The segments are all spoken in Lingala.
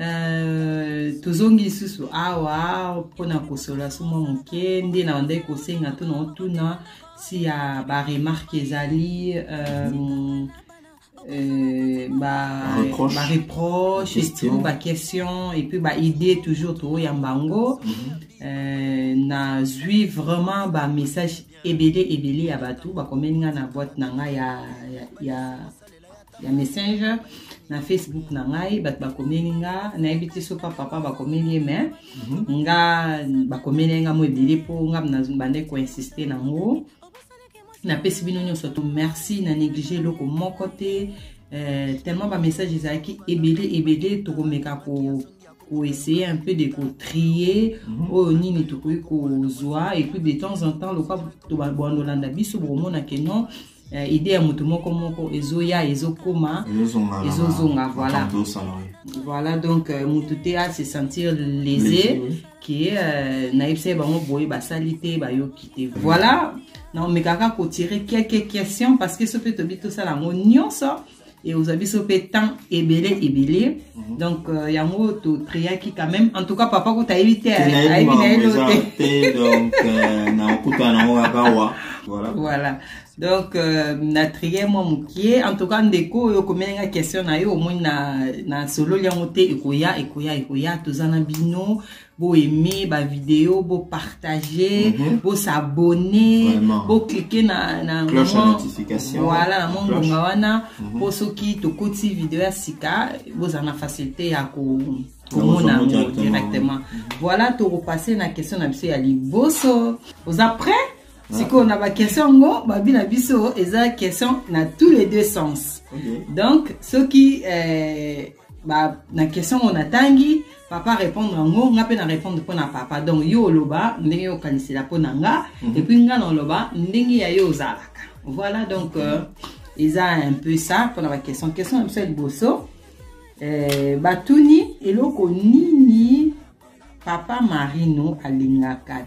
Euh, tozongi lisusu awa mpona kosola so mwa moke nde na bandaki kosenga to na otuna si ya baremarke ezali euh, euh, bareproche etout baquestion epuis baidée toujours tooyamba yango mhm. nazwi vraiment bamessage ebele ebele ya bato bakomeli ngai na boite na ngai ya ya messenger na facebook na ngai bato bakomeli nga nayebi te so pa papa bakomeli ye mais nga bakomeli ye nga mo ebele mpo nga bande koinsiste na yango napesi bino nyonso to merci na néglige eloko moko te euh, tellement bamessage ezalaki ebele ebele tokomeka ko koessaye un peu de kotrier mhm. oyo nini tokoki kozwa et puis de temps en temps lokwa tobandolanda biso bokomona ke non eh, idee ya moto moko moko ezoya ezokoma ezozonga voilà voilà donc euh, moto te a se sentir lese ke euh, nayebisa ye bango boye basali te bayoki te mm. voilà naomekaka kotire quelques questions parce que so mpe tobi tosala yango nyonso ekozwa biso mpe temps ebele ebele mhm. donc euh, yango totreyaki quand même en tout cas papa kuta ayebi te ayebi na yelo te donc euh, nakokutana nango kaka wa voilà, voilà. donc euh, na trie mwa mokie en tout cas ndeko oyo okomeli nga question na yo omoni na, na sololi yango te ekoya ekoya ekoya toza na bino bo aimer ba vidéo bo partager mm -hmm. bo s'abonner bo cliquer na na cloche ya notification voilà na mon ngonga wana mm -hmm. po soki tokoti vidéo ya sika bozala na facilité ya ko komona yango directement mhm. voilà tokopase na question na biso ya liboso oza prêt ah. sikoyo na baquestion yango babi na biso eza question na tous les deux sens okay. donc soki eh, ba, na question yango natangi papa répondre yango nga mpe na répondre mpo na papa donc yo oloba ndenge yo okanisela mpo na nga mm -hmm. epuis nga na oloba ndenge ya yo ozalaka voilà donc euh, eza un peu ça mpo na baquestion question na biso ya liboso euh, batuni eloko nini papa marino alingaka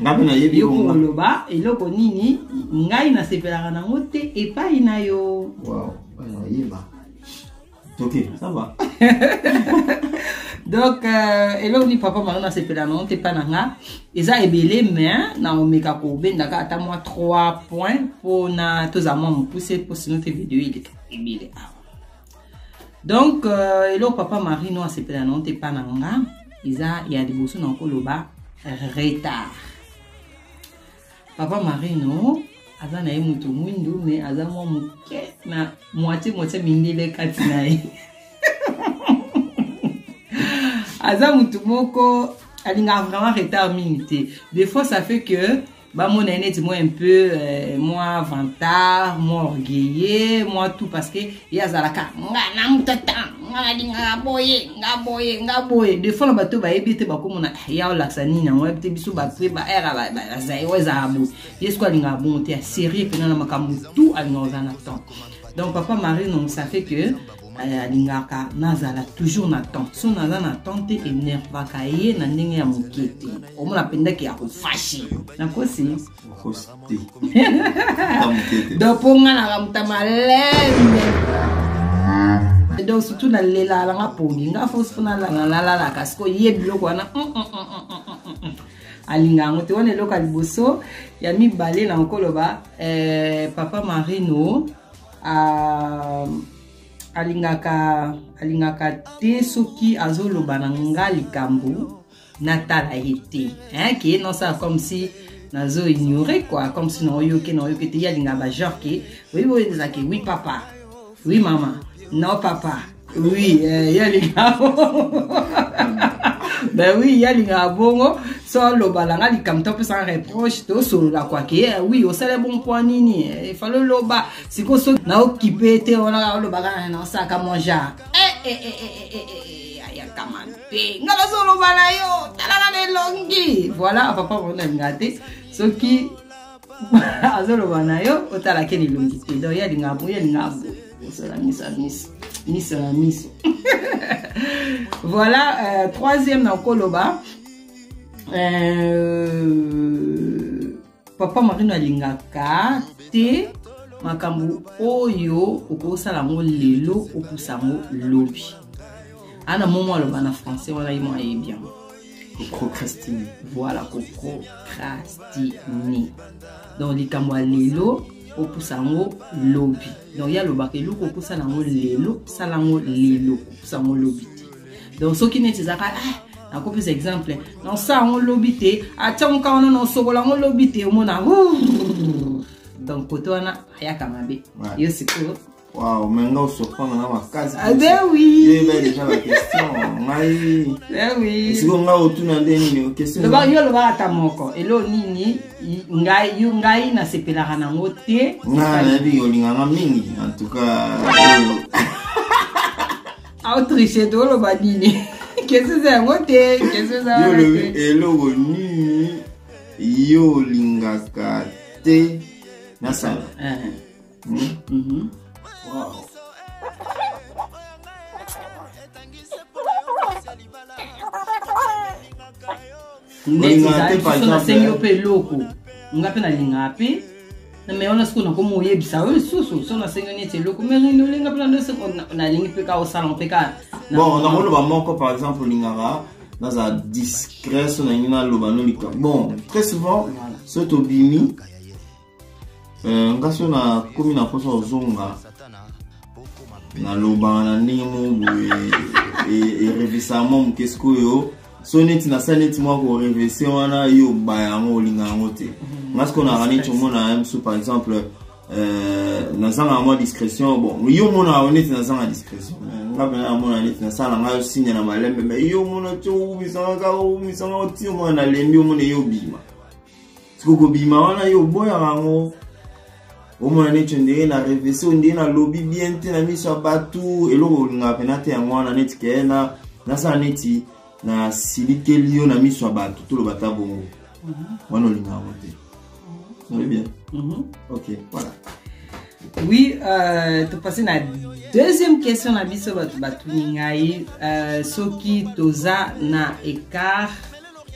ngai nayebi yo koloba eloko nini ngai nasepelaka nango te epai na yo wow. ayeba toke sava donc euh, eloko nini papa maro nasepela nango te epai na nga eza ebele mais naomeka kobendaka ata mwa 3 point mpona tozala mwa mopuse mpo sino te video eleka ebele awa donc euh, eloko papa marie no asepela nango te epa na nga eza ya liboso na koloba retard papa marino aza na ye moto mwindu me aza mwa moke na moitie moitie mindele kati na ye aza motu moko alingaka vraiment retard mingi te des fois ça fait que bamona ye neti mwa un peu euh, mwa vantard mwa orgueilleux mwa tout parce que ye azalaka nga na mutata nga nalingaka boye nga boye nga boye de fois na bato bayebi ete bakomona ah, ya olakisa nini yango yebi te biso bato ye baere bazairo ezalaka boye ye soko alingaka bongo te ya serie mpena na makambo tout alingaka oza na temps donc papa marie non ça fait que Eh, alingaka nazala toujours na temps so naza na temps te enervaka ye na ndenge ya moke te omona mpendaki ya kofashi nakosi donc mpo nga naka moto malembe donc surtout nalela nanga pongi nga fosi mpo nalanga nalalaka siko ye biloko wana mm, mm, mm, alinga yango te wana eloko ya liboso ya mibale na okoloba eh, papa marino uh, alingaka alingaka te soki azoloba na nga likambo natala ye te hein, ke nosala comme si nazo ignore quoi comme si naoyoke naoyoke te ye alingaka bagenre ke oyebi oyo ezalaka oui papa oui mama non papa oui eh, ye alingaka ben oui ye alingaka bongo so aloba na nga likambo to apesaka reproche tosolola kwake ye eh, oui osala bon mpo nini eh, efali oloba sikoyo so naokipe te wana olobaka ah, naosalaka mon genre ayaka mabe nga nazoloba na yo talaka na elongi voilà papa mona alinga te soki azoloba na yo otala ken elongi te donc ye alingaka boye alingaka boye osala miso ya miso miso na miso voilà euh, troisième na okoloba euh, papa marino alingaka te makambo oyo okosala yango lelo opusa yango lobi ana momo aloba na français wana ye mo ayebi yango kocrocrastine voilà kocrocrastine donc likambo ya lelo opusa yango lobi donc ye alobaka eloko opusa na yango lelo sala yango lelo opusa yango lobi te donc soki neti ezaka ah, nakopesa exemple nosa yango lobi te atiango ka wana nosokola yango lobi te omona donc kote wana ayaka mabe yo sikoyo Waouh, mais nga osopana na makasi. Ah ben oui. Yo ba déjà la question. Ngai. Ben oui. Siko nga otuna nde nini question. Loba yo loba ata moko. Elo nini ngai yo ngai na sepelaka nango te. Nga na bi yo linganga mingi. En tout cas. Autriche to loba nini? Question za yango te, question za. Yo lobi eloko nini yo lingaka te nasala. Uh eh. -huh. nasengi yo mpe eloko nga mpe nalingaka mpe na me wana sikoyo nakomi oyebisa yo lisusu so nasengi yo neti eloko merino olinga mpe nandoso nalingi mpe ka osala mpe ka bon nakoloba moko par exemple olingaka naza discret so nalingi naloba no likambo bon très souvent so tobimi Eh, ngai so nakomi na mposa ozonga nalobaka na ndenge moko boye erevesaka mwa moke sikoyo so neti nasala neti mwa korevese wana yo oba yango olinga yango te mhm. ngai sikoyo naka neti omona ya mosu par exemple eh, nazangaka mwa discrétion bon yo omonaka yo neti nazanga discrétion nga mpena namona neti nasala ngai osinya na malembe mai yo omona ti oumisangaka oumisanga otiyo mwana nalembi omona ye obima siko kobima wana yo oboyaka yango omona neti ondenge na revese ondenge nalobi bien te na miso ya bato eloko olingaka mpena te yango wana neti kee na nasala neti nasilikeli yo na miso ya bato toloba ta bongo mhm. wana olingaka yango te mhm. oyebi bien mhm. ok voilà oui euh, topase na deuxième question na biso bato batuni ngai euh, soki toza na écart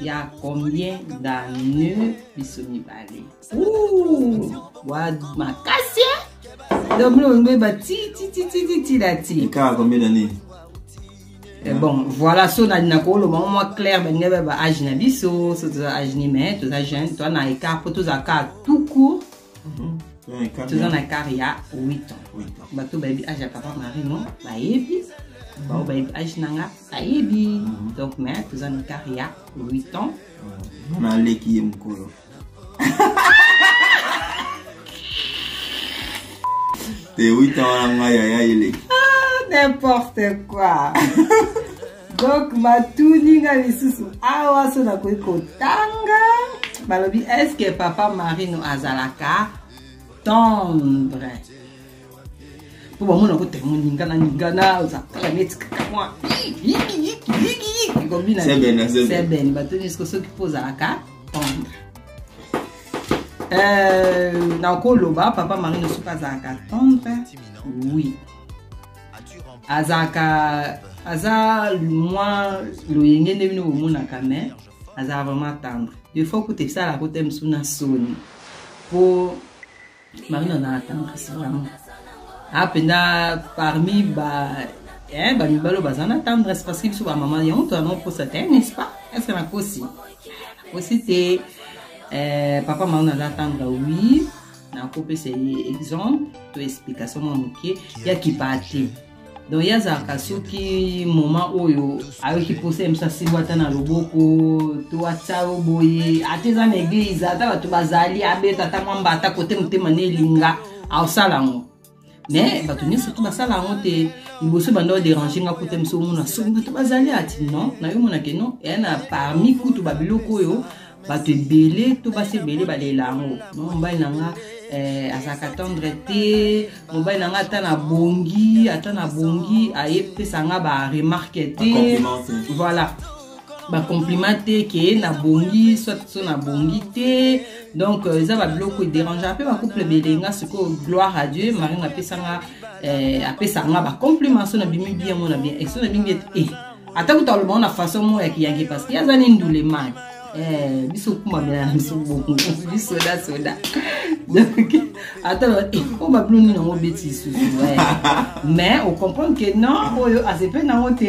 ya combien d'anneau biso mibale makasi doblongbeba titititititati kaka combien d'anneau Eh, bon voilà so na na koloba ngo mwa claire balingi baba age na biso so toza age ni mais toza jeune toza na écart mpo toza kaka tout court Mhm. toza na kar ya 8 ans bato bayebi age ya papa marino bayebi bao bayebi age na nga bayebi mhm. donc mais toza na kar ya 8 ans naleki ye mokolo te 8 ans wana ngai yaya eleki ah, n'importe quoi donc matuni nga lisusu awa so nakoki kotanga balobi eske papa marino azalaka tendre mpo bamona ko temo ningana ningana ozakala neti kaka mwa kobina sebene bato nyonso ko soki mpo ozalaka tendre euh, nakoloba papa marino soki azalaka tendre oui azalaka aza mwa loyenge nde bino bomonaka me azalaka vraiment tendre defo kuta esalaka kote mosu na soni mpo marine azalaka tendresse vraiment apenda parmi ba eh, bamibalo baza na tendresse parce que biso bamama yango tozana kokosa te eh, n'est-ce pas estce nakosi nakosi te eh, papa marine aza tendre oui nakopesa ye exemple to explication mwa moke ya kipaa te donc ye azalaka soki moma oyo ayoki mposa ya biso asimbo ata na loboko to atya yo boye ata eza na eglize ata bato bazali abeta ata mwamba ata kote motema na elinga aosala yango me bato nyonso mpe basala yango te liboso banda oderange nga kuta miso omona soki bato bazali ati non na yo monake non eya na parmi kutu babiloko oyo bato ebele to basi ebele balela yango no mobali na nga eh, azalaka tendre te mobali na nga ata na bongi ata na bongi ayepesa nga baremarke te voilà bacompliment te ke nabongi soit so nabongi te donc euh, eza babiloko ederangea mpe bacouple ebele nga sikoyo gloire à dieu mari nga apesanga euh, apesaka nga bacompliment so nabimi bien mona bien eso nabingi ete e eh, ata kuta alobango na façon moko ya kiyange parce que aza ni ndule maki eh, biso kumamela na biso bongo bisoda soda donc ata o babilo nini yango obeti lisusu mais ocomprendre ke non oyo asepe nango te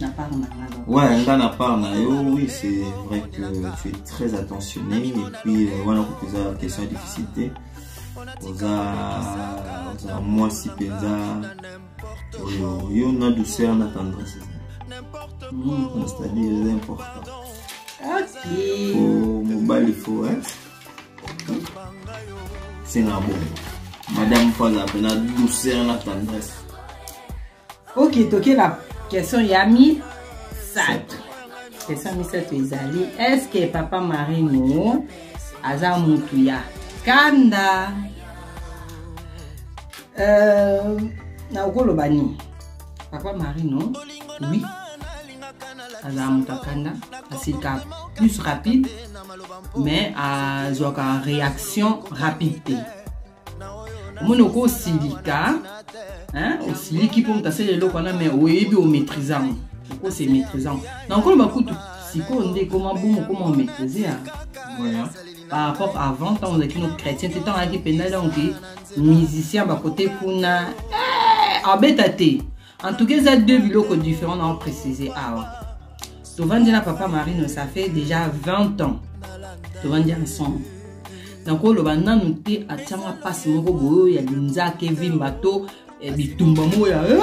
Na part na nga donc. Ouais, nga na part na yo, oui, c'est vrai que tu es très attentionné et puis euh, wana kutu eza question ya difficulté. Oza oza mwasi mpenza oyo yo na douceur na tendresse eza. Mm, C'est-à-dire eza important. Ok. Faut mobali faut hein. Senga bongo. Madame mpo aza mpe na douceur na tendresse. ok toke na question ya misato question ya misato ezali estce papa marino aza mutu ya kanda euh, nakoloba nini papa marino oui azala moto akanda asilika plus rapide mais azwaka réaction rapide te omoni oko osilika osiliki mpo moto asala eloko wana mai oyebi omaîtrise yango oko se maîtrise yango na nkoloba kutu sikoyo nde ekoma bomo okoma omaîtrise ya par rapport avant ntango ozalaki no chrétien te ntango ayaki mpenza donc musicien bakote kuna eh, abeta te en tout cas eza deux biloko différent nao précise awa tovandi na papa marino ça fait déjà 20 ans tovandi ensemble nakoloba nanu te atianga mpasi moko boyo ya linzaka evimba to eh, bitumba moko ya eh,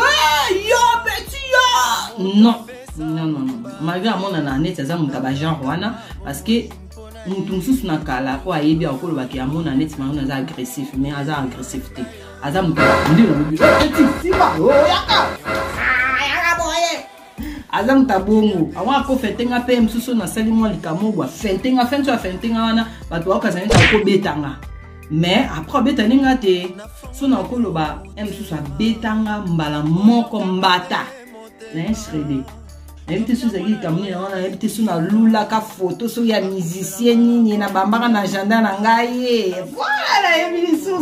yo beti yo non non non non malgré amonana neti aza moto ya bagenre wana parce que moto mosusu na kala oyo ayebi akolobaki amona neti marino aza agressif mais aza agressif te aza moto abonde na bobi eti simba oyaka yaka boye aza moto abongo ango akofete nga mpe mosusu nasali mwa likambo bwa fente nga fente ya fente nga wana bato baokazani ta kobeta nga mais après obetani nga te so nakoloba ya mosusu abeta nga mbala moko mbata naye srede nayebi te so ezalaki likambo nini yango nayebi te so nalulaka foto so ya musicien nini na bambaka na agenda na ngai voilà nayebi lisusu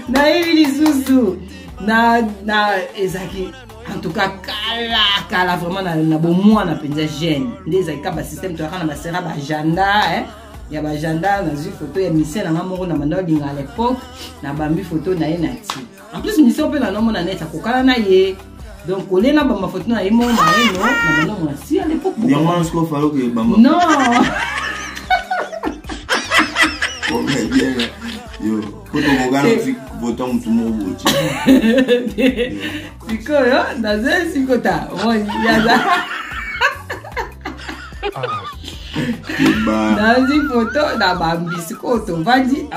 nayebi lisusu na na ezalaki en tout cas kala kala vraiment na, na bomwana mpenza jeune nde ezalaki ka basystème toyaka na basera baagenda eh? ya baagenda nazwi foto ya misie na ngai moko na banda olinga à l'époque nabambi foto na ye na ti en plus mission mpe na nomona neti akokana na ye donc kolie na bamba foto na ye moko na ye no na banda mona si à l'époque yango wana sikoyo falo ke bamba non yo po tokokana osi vota motu moko boti sikoyo naza sikota yaza nazwi foto na bambi sikoyo tovandi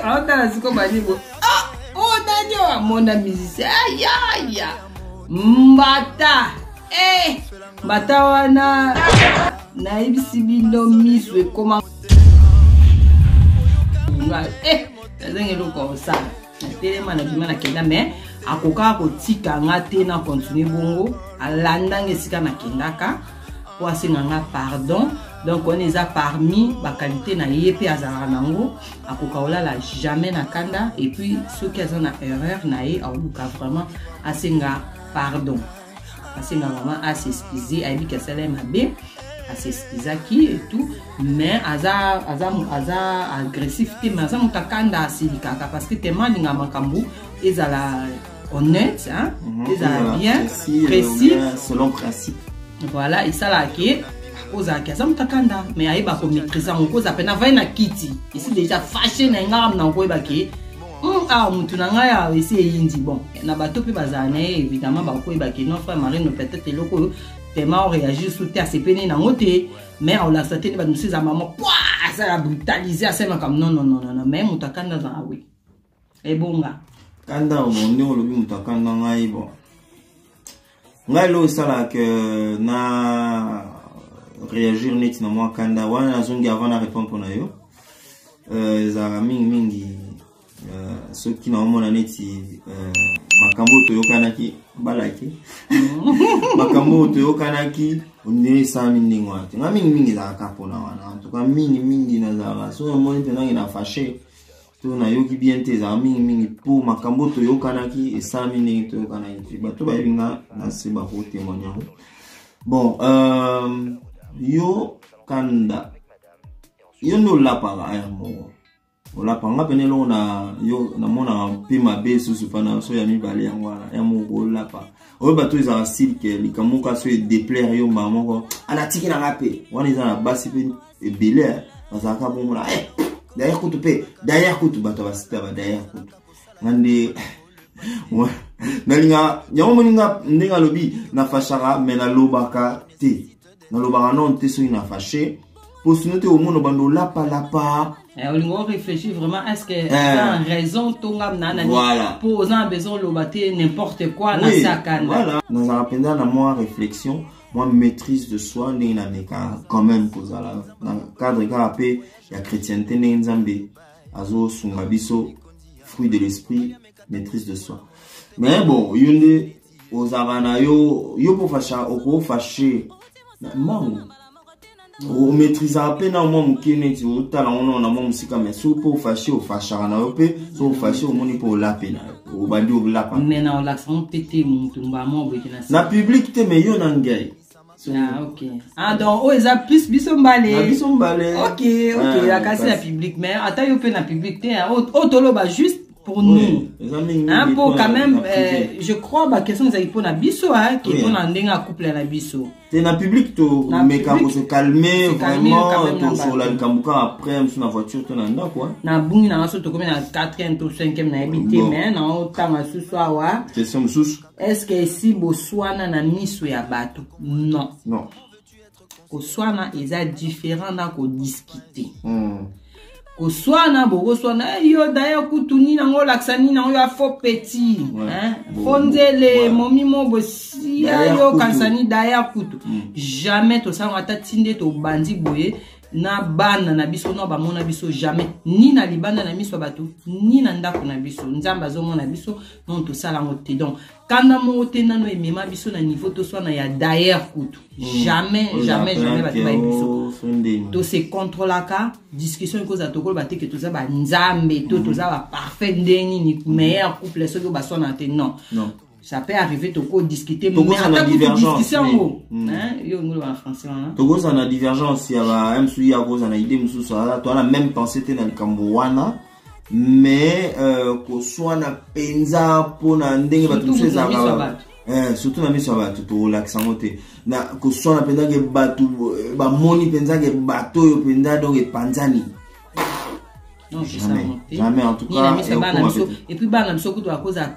aotala sikoyo banibo ah, o oh, nani oyo amona musicien ayaya ah, mbata eh, mbata wana nayebisi bino miso ekoma eh, nazangi eloko osala natelema na bima na kenda me akokaka kotika nga te na continue bongo alanda nga esika nakendaka mpo asenga nga pardon donc wana eza parmi bakalite na ye mpe azalaka nango akoka kolala jamais na kanda epuis soki aza na erreur na ye aoluka vraiment asenga pardon asenga mama a s'excuse ayebi ke asala ye mabe asexcusaki etout mais aza, aza, aza agressif te mais aza moto akanda asilikaka parce que tema alinga makambo ezala honnête hein? mm -hmm. ezala bien précis, précis. Euh, selon principe voilà esalaka ke ozalaki aza moto akanda mais ayeba komaîtrise yango kozala mpe navai na kiti esi deja fashe na ye ngaka mna koyeba ke Hmm, awa motu na ngai awa esi eyindi bon na bato mpe bazala na ye évidemment bakoyeba ke non frère marino peut-être eloko oyo tellement oréagir su te asepeni nango te mais aolakisa te nde bato mosusu eza mama pwa asala brutaliser asala makambo non non non non mais moto akanda azala we ebonga kanda omoni olobi moto akanda ngai bon ngai lelo esalaka ke na réagir neti na mwa kanda wana nazongi avant na répondre mpo na yo euh, ezalaka mingi mingi euh, soki naomona neti euh, makambo oyo toyokanaki balaki makambo oyo toyokanaki ondire esalami ndenge wana te nga mingi mingi ezalaka mpona wana antuka mingi mingi nazalaka soki omoni mpenza nge na fashe to nayoki bien te ezalaka mingimingi mpo makambo toyokanaki esalami ndenge toyokanaki te bato bayebi nga na se bakotemoigne yango bon euh, yo kanda yo nde olapaka aya moko olapa nga pene eloko na yo namonaka mpe mabe susu mpa na so ya mibale yango wana ya moko olapa oyo bato ezalaka silke likambo kasi oyo edeplaire yo mbala moko alatikela nga mpe wana eza na basi mpe ebele eh, bazalaka bongo na eh, daya kutu mpe daya kutu bato ya basite ya badaya kutu nga nde nalinga yango moni nga ndenge alobi nafashaka me nalobaka te nalobaka nano te soki nafashe mpo sino te omona bando olapalapa eh, olingi orefléchir vraiment est ce que oza eh. raison to nga nanani mpo oza na besoin oloba te n'importe quoi nasakana nazalaka mpenza na mwa réflexion mwa maîtrise de soi ndenge na meka quand même kozala na cadre kaka mpe ya chrétienté ndenge nzambe azosunga biso fruit de l'esprit maîtrise de soi mais bon yo nde ozalaka na yo yo mpo fasha okofashe na mbangu omaîtrisaka mpe na mwa moke neti otala ngo nao na mwa mosika mai soki mpe ofashe ofashaka na yo mpe soki ofashe omoni mpe olape na yo obandi olapa na publike te mai yo na ngai Ah, okay. ah, donc oyo oh, eza plus biso mbalebiso mbale ok ok ah, akasi na public mais ata yo mpe na public te oyo oh, oh, toloba juste pour nous hein, mpo quand même euh, je crois baquestion ezali mpo na biso ke mpo na ndenge ya couple na biso te na public tomeka kozo calme vraiment tosola likambo kaka après mosu na voiture to na ndako nabungi nanga so tokomi na 4 to 5 nayebi te me naotanga susu awa question mosusu est ce que esi boswana na miso ya bato non non koswana eza différent na kodiscute mm. koswana bokoswana eh, yo daya kutu nini yango olakisa nini yango ya fo petit fo nzele momi mo bosiya yo kansani daya kutu mm. jamais tosalanga ata ti nde tobanzi boye na bana na biso no bamona biso jamais ni na libanda na miso ya bato ni na ndako na biso nzambe azomona biso non tosala yango te donc kanda moko te nano emema biso na niveau toswana ya dayer kutu hmm. jamais jamais jamais bato bayebi biso tose controlaka discussion ekozala tokoloba te ke toza banzambe to hmm. toza baparfait nde nini hmm. meilleur couple soki oyo baswana te non ça peut arriver toko discuter ata kutu discussion yango yo ngolo ba français wana tokozala na divergence ya ba msu ya kozala na idée mosusu toza na même pensée te na likambo wana mais euh, koswana mpenza mpona ndenge bato mosusu ezalaka eh, surtout na miso ya bato tolakisa yango te na koswana mpenza ke bato eh, bamoni mpenza ke bato oyo mpenza donc epanzani jamais en tout cas et puis bana biso kutu bakozala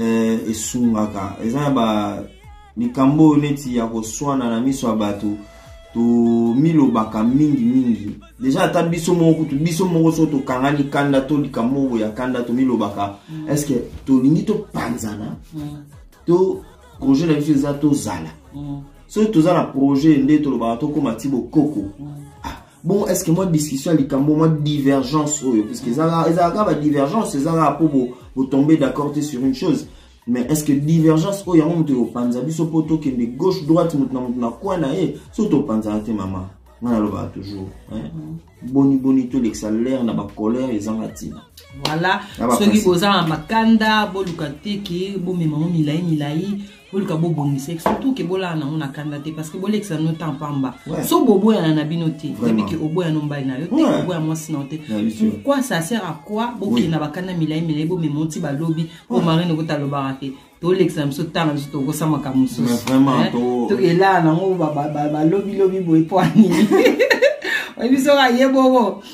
eh, esungaka eza na ba likambo oyo neti ya koswana na miso ya bato tomilobaka mingi mingi deja ata biso moko kutu biso moko soki tokangani kanda to likambo moko ya kanda tomilobaka mm. estce tolingi topanzana mm. to projet na biso eza tozala mm. soki toza na projet nde tolobaka tokóma ti bokoko mm. ah, bon est ce que mwa discussion ya likambo mwa divergence oyo puisque ezalaka badivergence ezalaka mpo botombe d'accord te sur une chose mais est ce que divergence oyo yango moto ekopanza biso mpo tokende gauche droite moto na moto na coin na ye so topanzana te mama ngai nalobaka toujours mm. boni boni tolekisa lere na bacolere ezanga ntina voilà soki boza na makanda boluka teke bomema ngo milai milai boluka bobongisa surtout ke bolala nango na kanda te parce que bolekisa no temps pamba so boboyana na bino te yebi ke oboya no mbali na yo te oboya mwasi na yo te pourquoi ça sert à quoi bokenda bakanda milai milai bomema oti balobi po marine okota alobaka te tolekisa biso ntango biso tokosa makambo mosusu tokelaa nango balobilobi boye po anini oyebi soki aye bongo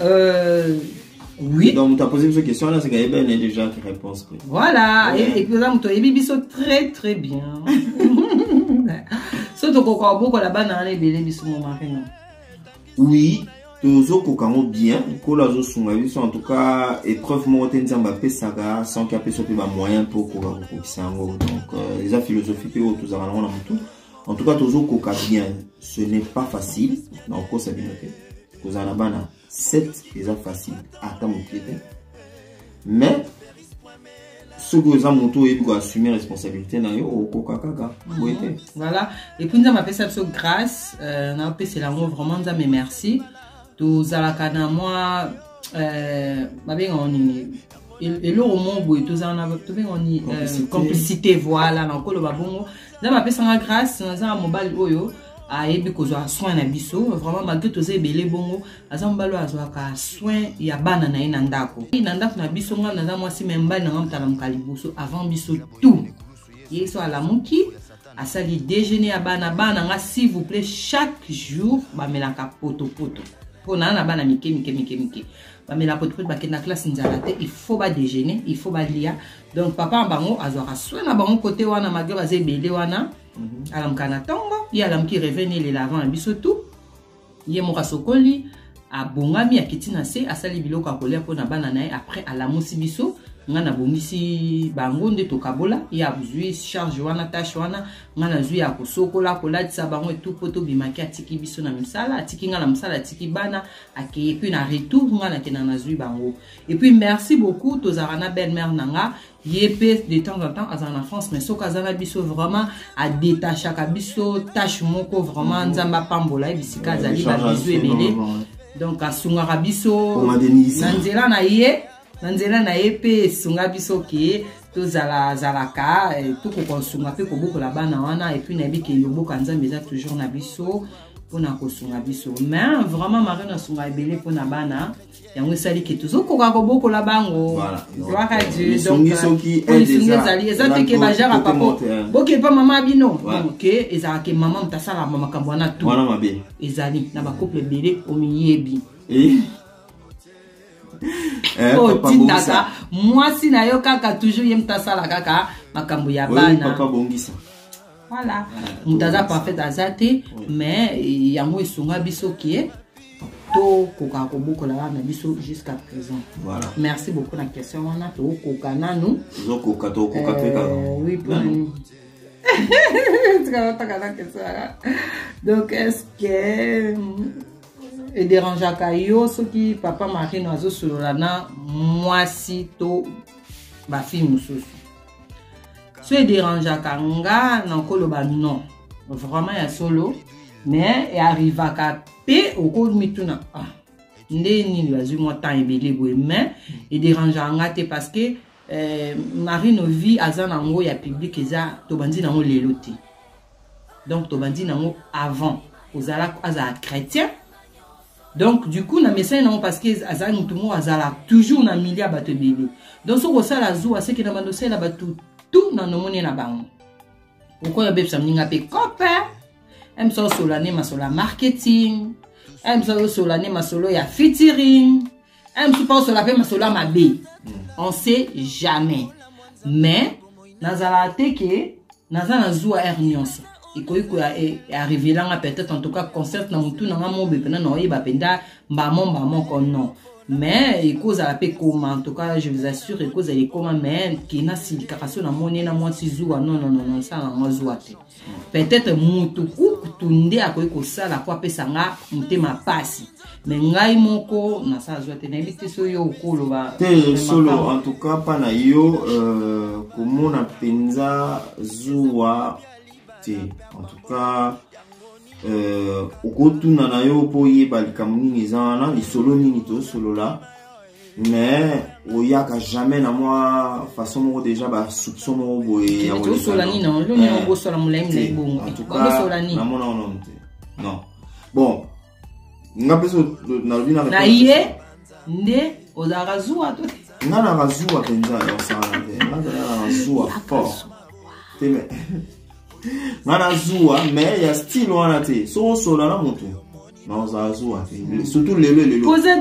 Euh, oui. Donc, tu as posé une question, là, c'est qu'il y a déjà qui réponse. Quoi. Voilà. Ouais. Et, et puis, là, tu as biso très, très bien. Surtout qu'on a beaucoup là-bas, dans les bébés, biso, mon mari. Oui. tozokoka yango bien nkolo azosunga biso en tout cas épreuve moko te nzambe apesaka sanki apesa mpe bamoyen mpo okoka kokokisa yango donc euh, eza philosophie mpe oyo tozalaka nango na motu en tout cas tozokoka bien ce n'est pas facile na okosa bino te kozala na bana 7 eza facile ata moke te mais soki oza moto oyebi koassume responsabilité na yo okoka kaka boye te voilà epuis nzambe apesa biso grâce euh, naopesela yango vraiment nzambe merci tozalaka na mwa euh, babengaka nini eloko moko boye tozala na tobenga ni euh, complicité voilà na okoloba bongo nzambe apesanga grâce naza na mobali oyo ayebi kozwa soin na biso vraiment malgre toza ebele bongo aza mobali oyo azwaka soin ya bana na ye na ndako na ndako na biso ngai naza mwasi me mbali nanga motalamuka liboso avant biso tout ye so alamuki asali déjeuner ya bana bana nga s'il vous plaît chaque jour bamelaka potopoto mpo naa na bana mike mike mike mike bamela potipote bakenda classe nzala te il faut badejeuner il faut balia donc papa na bango azwaka soin na bango kote wana malgre baza ebele wana mhm. alamuka na ntongo ye alamuki revene elela avant na biso tu ye moko asokoli abongami akiti na se asali biloko ya kolia mpo na bana na ye après alamusi biso ngai nabongisi bango nde tokabola ye azwi charge wana tâche wana ngai nazwi ya kosokola kolatisa bango etu mpo tobimaki atiki biso na misala atiki ngai na mosala atiki bana akei epuis na retour nga nakenda nazwi bango epuis merci beaucoup tozalaka na belle mare na nga ye mpe de temps en temps azala na france mais soki aza na biso vraiment adetachaka biso tâche moko vraiment mhm. nzambe apambola ye bisika azali babizu ebele donc asungaka biso na nzela na ye na nzela na ye mpe esunga biso ke tozalazalaka eh, tokoka kosunga mpe kobokola bana wana epuis nayebi ke yoboka nzambe eza toujours na biso mpona kosunga biso me vraiment marino asunga ebele mpona bana yango esali ke tozokoka kobokola bango gloire dieu donc euh, ezali eza te ke bajara papa bokepa mama bino ke ezalaka ke mama moto asalaka makambo wana tu ezali na bacouple ebele omiyebi eh? Eh, otindaka mwasi na yo kaka toujours ye moto asala kaka makambo ya bana Voilà. Moto aza parfait aza te mais yango esunga biso kie tokoka kobokola wana na biso jusqu'à présent voilà. merci beaucoup na question wana tokoka nanu tokoka tokoka mpe kaka euh, oui pour tokoka na question wana donc est ce que euh, ederangeaka yo soki papa marino azosolola na mwasi to bafille mosusu so ederangeaka nga nakoloba non vraiment ya solo mais earrivaka mpe okomituna ah, nde nini bazwi mwa temps ebele boye mais ederangeaka nga te parce que eh, marino vie aza na yango ya public eza tobandi na yango lelo te donc tobandi na yango avant ozala azala chrétien donc du coup na mesani nango parce que azalaki motu moko azala toujours na milia bato ebele donc soki osala zuwa seke na bando osalela bato tout na nomone na bango okoya obebisa moninga mpe cope emisa osola nde masolo ya marketing emisa osola nde masolo ya featuring un mosusu mpe osola mpe masolo ya mabe hmm. on sait jamais mais nazalaka te ke naza na zuwa aire nyonso ekoki koarrivela e, nga peut-être en tout cas concert na motu na nga mobe mpena na oyeba mpenza mbamo mbamo ko non mais ekozala mpe koma en tout cas je vous assure ekozala ekoma mais kena silikaka so namoni na mwasi zuwa non non non non sala yango zuwa te peut-être moto kutu nde akoki kosala po apesa nga motema mpasi me ngai moko nasala zwa te nayebi te so yo okoloba te solo en tout cas mpa na yo euh, komona mpenza zuwa te en tout cas euh, okotuna na yo mpo oyeba likambo nini eza wana lisolo nini tosolola mais oyaka jamais na mwa façon moko déjà basoupçon moko boye yaosola nini loni okosola molai molai bongoaosola nini namona ono te non bon nga mpe so nalobi na ye nde ozalaka zuwa to nga naka zuwa mpenza yaosala te nga naka zuwa fort te me nga na zuwa mais ya style wana te soki osola na motu surtout lelo elokoza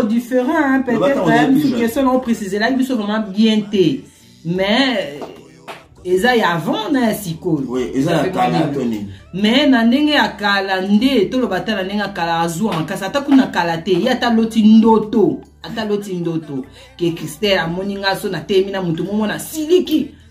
différent peut-être question nao préciselaki biso vraiment bien te mais eza ya avant na ya sikoyo mais na ndenge ya kala nde toloba ata na ndenge ya kala azuwa makasi ata kuna kala te ye ata loti ndoto ata loti ndoto ke christelle amoni nga so na temi na moto momo na siliki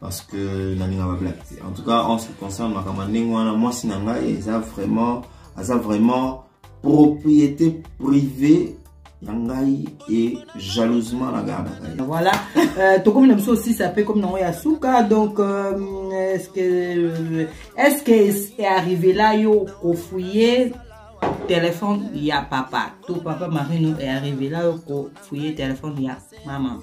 parce que nalinga ba black te en tout cas en ce qui concerne makambo ndenge wana mwasi na ngai eza vraiment aza vraiment propriété privée ya ngai e jalousement na gardaka ye voilà euh, tokomi na biso osisa mpe komi nango ya suka donc euh, est-ce que euh, est-ce que arrivé la yo kofouye téléphone ya papa to papa marino est arrivé la yo kofouye téléphone ya maman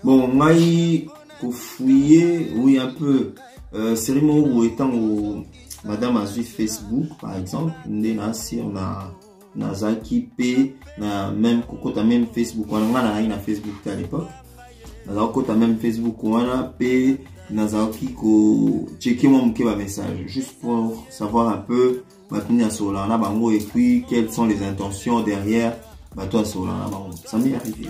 bon ngai kofouye oui un peu euh, série moko boye ntango madame azwi facebook par exemple nde na sur na nazalaki mpe na meme kokota meme facebook wana ngai nazalaki na facebook te à l'époque nazalaki kokota meme facebook wana mpe nazalaki kocheke mwa moke bamessage juste pour savoir un peu bato nini asololaka na bango et puis quelles sont les intentions derrière bato asololaka na bango ça m'est arrivé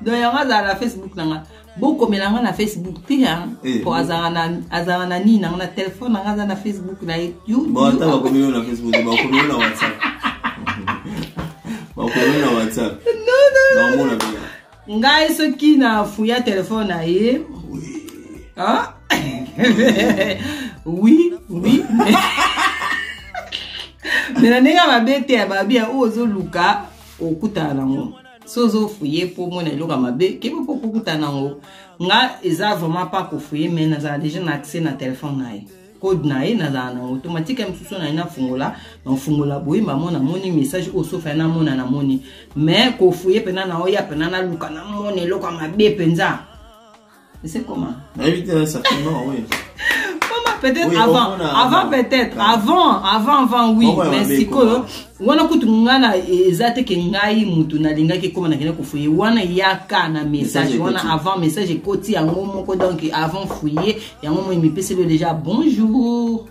donc yango azala na facebook na nga bokomela nga na facebook te eh, po azala na nini nanga na telefone nanga aza na facebook na ye ata bakomeli yo na facebook bakomeli yo na whatsapp bakomeli na whatsapp naomona ngai soki na fuya telefone na ye ah? oui oui me na ndenge mabe te ya babia oyo ozoluka okutana nango so ozofuye mpo omona eloko ya mabe kebe mpo okokutana nango nga eza vraiment pa kofuye me nazala deja na accès na telefone na ye code na ye nazala na yango to matika ye mosusu na ye nafungola nafungola boye mamo namoni message oyo sofa ye namona namoni mais kofuye mpena na oya mpena naluka namona eloko ya mabe mpenza ese koma peut-être oui, avant avant peut-être avant avant avant oui oh, mais sikoyo wana kutu ngai na eza te ke ngai mutu nalingaki ekoma nakende kofuye wana yaka na message wana avant message ekoti yango moko donc avant fuye yango moi mipeseli yo deja bonjour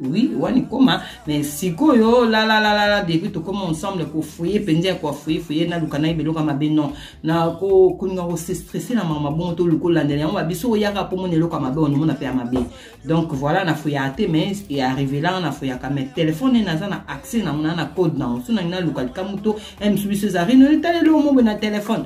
oui wani koma mais sikoyo lalalalala depuis tokoma ensemble kofuye mpenza ya koafuye fuye naluka na ye biloko ya mabe non na kolinga kosestresse na mama bongo toluka olandela yango babiso oyaka mpo mona eloko ya mabe onomona mpe ya mabe donc voilà nafuyaka te mais earrivelanga nafuyaka mais telefone ene aza na accès nango na na code nango so nangi naluka likambo to eh, misu biso eza rino etaleli omobe na telefone